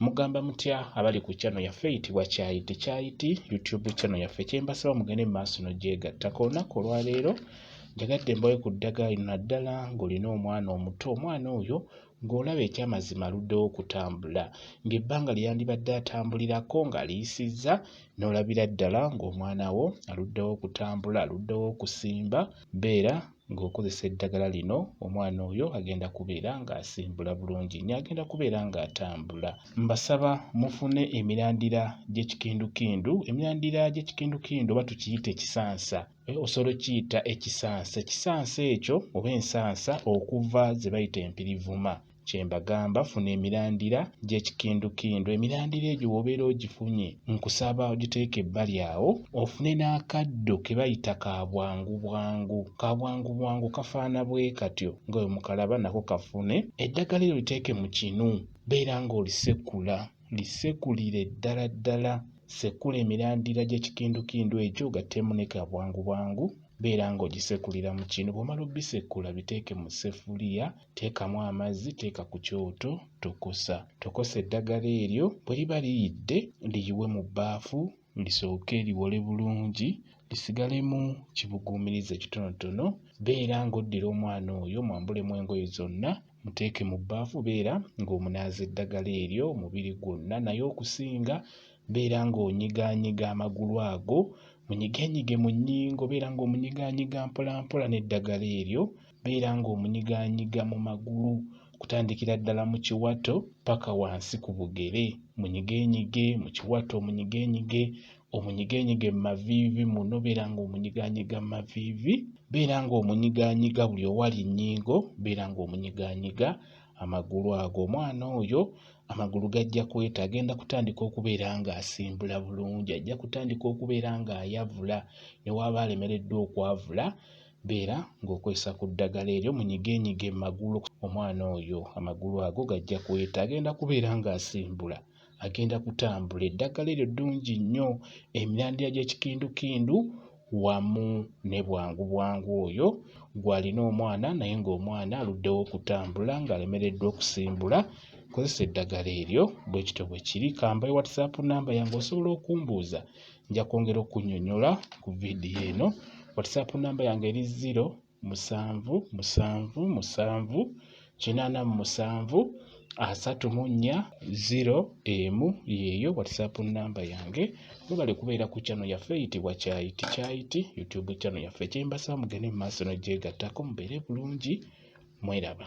Mugamba mutya abali ku channel yaffe eyitibwa Kyayiti Kyayiti YouTube channel yaffe kyembasaba mugende mu maaso n'ogyegatta. Ku lunaku olwaleero njagadde mbawe ku ddagala lino naddala ng'olina omwana omuto omwana oyo ng'olaba ekyamazima aluddewo okutambula ng'ebbanga lye yandibadde atambulirako ng'aliyisizza n'olabira ddala ng'omwana wo aluddewo okutambula aluddewo okusimba beera ng'okozesa eddagala lino omwana oyo agenda kubeera ng'asimbula bulungi nnyo agenda kubeera ng'atambula mbasaba mufune emirandira gy'ekikindukindu emirandira gy'ekikindukindu oba tukiyita ekisansa eh, osobola okiyita ekisansa ekisansa ekyo oba ensansa okuva ze bayita empirivuma kyembagamba funa emirandira gyekikindukindu emirandira egyo wobeera ogifunye nkusaba ogiteeka ebbali awo ofune n'akaddo kebayita ka bwangu bwangu ka bwangu bwangu kafaana bwe katyo nga we mukalaba nako kafune eddagala eryo liteeke mu kinu beera ng'olisekula lisekulire ddala ddala sekula emirandira gy'ekikindukindu egyo ogattemu ne ka bwangu bwangu beera ng'ogisekulira mu kinu bw'omala obisekula biteeke mu sefuliya Teekamu amazzi teeka ku kyoto tokosa. Tokosa eddagala eryo bwe liba liyidde liyiwe mu bbaafu lisooke liwole bulungi lisigalemu kibuguumiriza ekitonotono. Beera ng'oddira omwana oyo omwambulemu engoye zonna muteeke mu bbaafu beera ng'omunaaza eddagala eryo omubiri gwonna naye okusinga beera ng'onyigaanyiga amagulu ago munyigenyige mu nnyingo beera ng'omunyigaanyiga mpolampola n'eddagala eryo beera ng'omunyigaanyiga mu magulu okutandikira ddala mu kiwato paka wansi ku bugere munyigeenyige mu kiwato omunyigeenyige omunyigeenyige mu maviivi muno beera ng'omunyigaanyiga mu maviivi beera ng'omunyigaanyiga buli owali nnyingo beera ng'omunyigaanyiga amagulu ago omwana oyo amagulu gajja kweta agenda kutandika okubeera ng'asimbula bulungi ajja kutandika okubeera ng'ayavula ne waaba alemereddwa okwavula Beera ng'okozesa ku ddagala eryo munyigenyige mu magulu. Omwana oyo amagulu ago gajja kuweta, agenda kubeera ng'asimbula, agenda kutambula. Eddagala eryo ddungi nnyo, emirandira gy'ekikindukindu wamu ne bwangu bwangu oyo gw'alina omwana naye ng'omwana aluddewo okutambula ng'alemereddwa okusimbula, kozesa eddagala eryo. Bwe kityo bwe kiri. Ka mbawe WhatsApp nnamba yange osobola okumbuuza nja kwongera okunyonyola ku vidiyo eno whatsapp namba yange eri ziro musanvu musanvu musanvu kinaana mu musanvu asatu mu nnya ziro emu yeeyo whatsapp namba yange webale kubeera ku kyano yaffe eyitibwa kyayiti kyayiti youtube kyano yaffe kyembasa mugende mu maaso nogyegattako mubeere bulungi mweraba